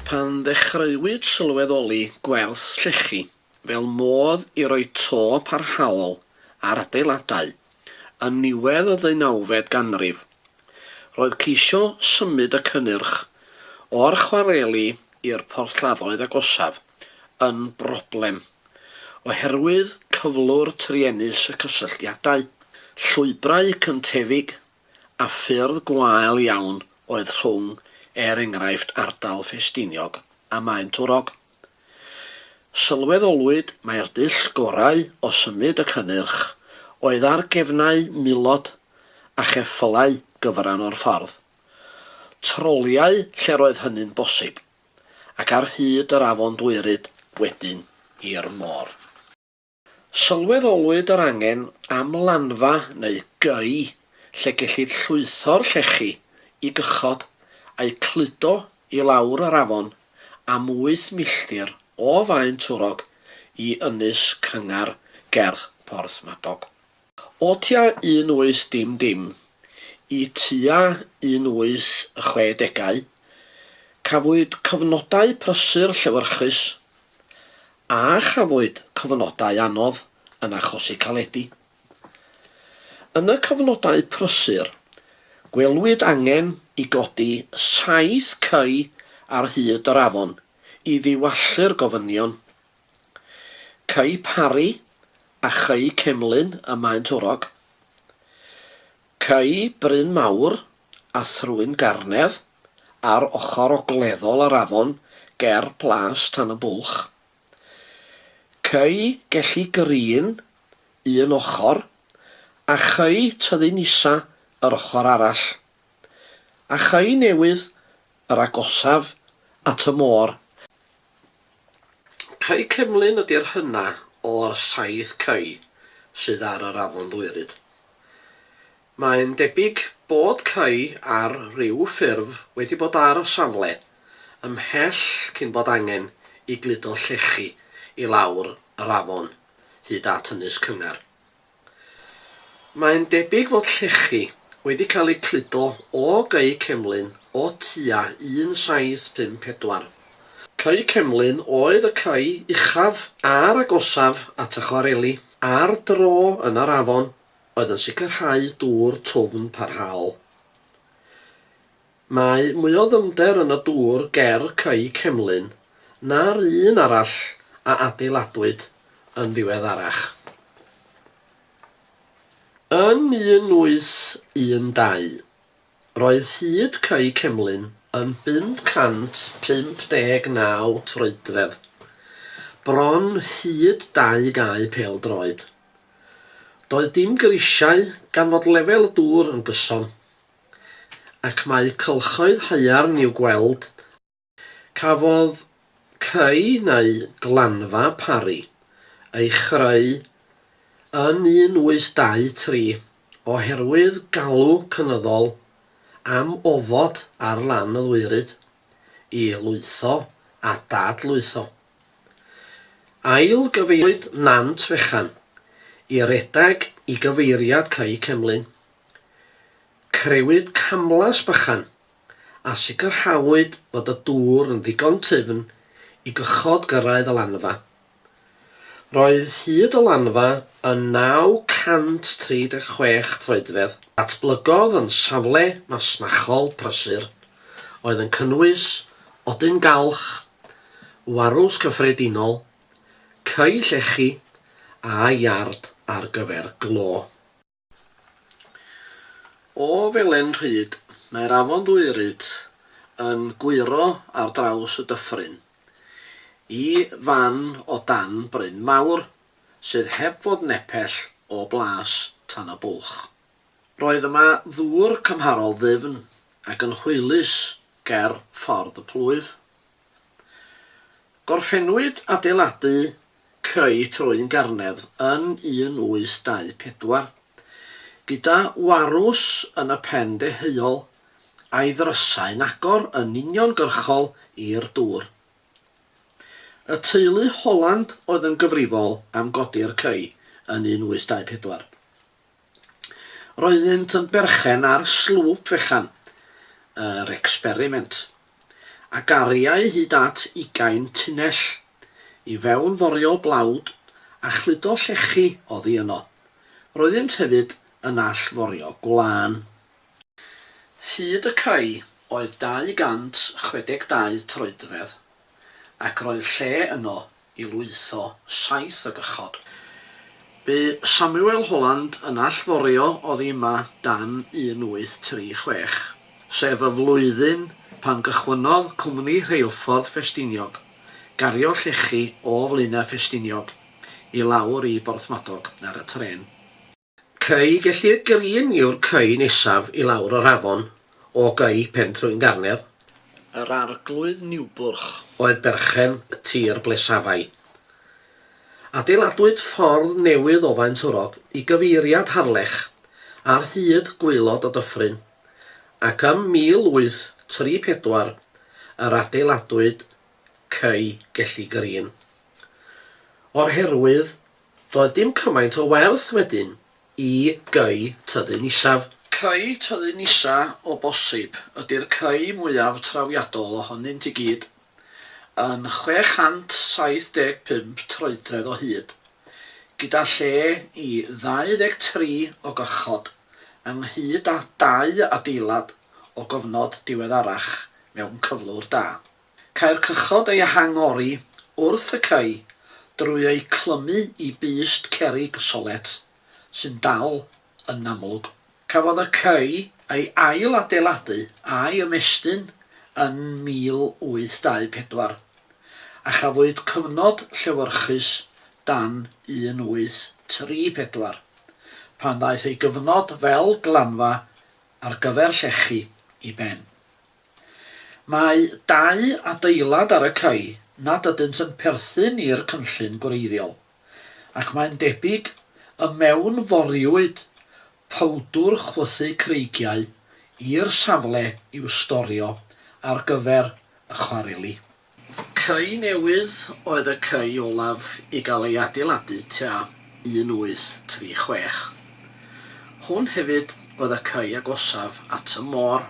Pan ddechreuwyd sylweddoli gwerth llechi fel modd i roi to parhaol ar adeiladau yn niwedd y ddeunawfed ganrif, roedd ceisio symud y cynnyrch o'r chwareli i'r porthladdoedd agosaf yn broblem oherwydd cyflwr truenus y cysylltiadau, llwybrau cyntefig a ffyrdd gwael iawn oedd rhwng, er enghraifft, ardal Ffestiniog a Maentwrog. Sylweddolwyd mai'r dull gorau o symud y cynnyrch oedd ar gefnau milod a cheffylau gyfran o'r ffordd, troliau lle'r oedd hynny'n bosib. ac ar hyd yr afon Dwyryd wedyn i'r môr. Sylweddolwyd yr angen am lanfa neu gei lle gellid llwytho'r llechi i gychod a'u cludo i lawr yr afon am wyth milltir o Faen Twrog i Ynys Cyngar ger Porthmadog. O tua un oes dim dim i tua un oes y chwe degau, cafwyd cyfnodau prysur llewyrchus, a chafwyd cyfnodau anodd yn achosi caledi. Yn y cyfnodau prysur, gwelwyd angen i godi saith cei ar hyd yr afon i ddiwallu'r gofynion. Cei Parri a Chei Cemlyn ym Maentwrog. Cei Bryn Mawr a Thrwyn Garnedd ar ochr ogleddol yr afon ger Plas Tan y Bwlch. Cei Gelli Green un ochr a Chei Tyddyn Isa yr ochr arall. A Chei Newydd yr agosaf at y môr. Cae Cemlyn ydi'r hynna o'r saith cae sydd ar yr Afon Ddwyrid. Mae'n debyg bod cae ar ryw ffurf wedi bod ar y safle ymhell cyn bod angen i gludo llechi i lawr yr afon hyd at Ynys Cyngar. Mae'n debyg fod llechi wedi cael eu cludo o gau cemlyn o tua 1754. Cau cemlyn oedd y cau uchaf a'r agosaf at y chwareli ar dro yn yr afon oedd yn sicrhau dŵr twfn parhaol. Mae mwy o ddyfnder yn y dŵr ger Cae Cemlyn na'r un arall a adeiladwyd yn ddiweddarach. Yn 1812, roedd hyd Cae Cemlyn yn 559 troedfedd, bron hyd dau gae pêl-droed. Doedd dim grisiau gan fod lefel y dŵr yn gyson. ac mae cylchoedd haearn i'w gweld. Cafodd cae neu glanfa Parry ei chreu yn 1823 oherwydd galw cynyddol am ofod ar lan y ddwyraid i lwytho a dad-lwytho. Ail-gyfeiriwyd Nant Fechan i redeg i gyfeiriad Cae Cemlyn. Crëwyd camlas bychan a sicrhawyd bod y dŵr yn ddigon tyfn i gychod gyrraedd y lanfa. Roedd hyd y lanfa yn 936 troedfedd. Datblygodd yn safle masnachol prysur oedd yn cynnwys odyn galch, warws cyffredinol, ceu llechi a iard ar gyfer glo. O felen rhyd, mae'r afon Ddwyryd yn gwyro ar draws y dyffryn i fan o dan bryn mawr sydd heb fod nepell o blas tan y bwlch. Roedd yma ddŵr cymharol ddyfn ac yn hwylus ger ffordd y plwyf. Gorffennwyd adeiladu creu troi'n garnedd yn 1824. Gyda Warws yn y pen deheuol, a'i ddrysau'n agor yn uniongyrchol i'r dŵr. Y teulu Holland oedd yn gyfrifol am godi'r cei yn 1824. Roeddynt yn berchen ar slwp fechan yr experiment, a gariai hyd at ugain tunnell i fewn forio blawd a chludo llechi oddi yno. Roeddynt hefyd yn all forio gwlân. Hyd y cae oedd 262 troedfedd ac roedd lle yno i lwytho saith o gychod. Bu Samuel Holland yn allforio oddi yma dan 1836, sef y flwyddyn pan gychwynnodd Cwmni Rheilffordd Ffestiniog gario llechi o Flaenau Ffestiniog i lawr i Borthmadog ar y trên. Cei Gelli'r Gryn yw'r cei nesaf i lawr o'r afon o gei Pen Trwyn Garnedd. Yr Arglwydd Niwbwrch. Oedd berchen y tir ble safai. Adeiladwyd ffordd newydd o Faentwrog i gyfeiriad Harlech ar hyd gwaelod y dyffryn, ac ym 1834 yr adeiladwyd cei Gelli Gryn. O'r herwydd Doedd dim cymaint o werth wedyn i Cei Tyddyn Isaf. Cei Tyddyn Isa o bosib ydi'r cei mwyaf trawiadol ohonynt i gyd, yn 675 troedfedd o hyd, gyda lle i 23 o gychod, ynghyd â dau adeilad o gofnod diweddarach mewn cyflwr da. Cae'r cychod ei hangori wrth y cae drwy eu clymu i bust cerrig solet sy'n dal yn amlwg. Cafodd y cae ei ail-adeiladu a'i ymestyn yn 1824, a chafwyd cyfnod llewyrchus dan 1834, pan ddaeth ei gyfnod fel glanfa ar gyfer llechi i ben. Mae dau adeilad ar y cae nad ydynt yn perthyn i'r cynllun gwreiddiol, ac mae'n debyg y mewnforiwyd powdwr chwythu creigiau i'r safle i'w storio ar gyfer y chwareli. Cae newydd oedd y cae olaf i gael ei adeiladu tua 1836. Hwn hefyd oedd y cae agosaf at y môr.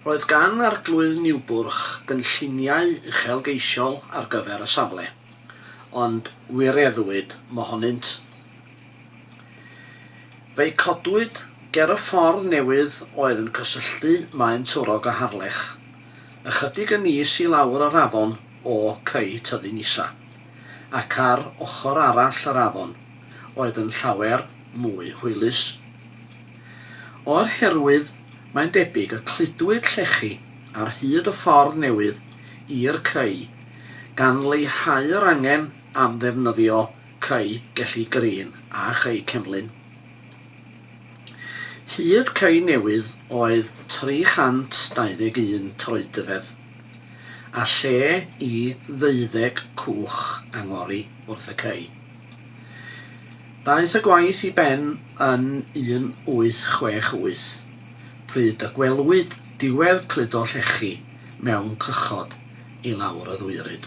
Roedd gan Arglwydd Niwbwrch gynlluniau uchelgeisiol ar gyfer y safle, ond wireddwyd mohonynt. Fe'i codwyd ger y ffordd newydd oedd yn cysylltu Maen Twrog a Harlech, ychydig yn is i lawr yr afon o Cei Tyddyn Isa, ac ar ochr arall yr afon oedd yn llawer mwy hwylus. O'r herwydd, mae'n debyg y cludwyd llechi ar hyd y ffordd newydd i'r Cei, gan leihau'r angen am ddefnyddio Cei Gelli Green a Chei Cemlyn. Hyd Cei Newydd oedd 321 troedfedd, a lle i ddeuddeg cwch angori wrth y cei. Daeth y gwaith i ben yn 1868, pryd y gwelwyd diwedd cludo llechi mewn cychod i lawr y ddwyryd.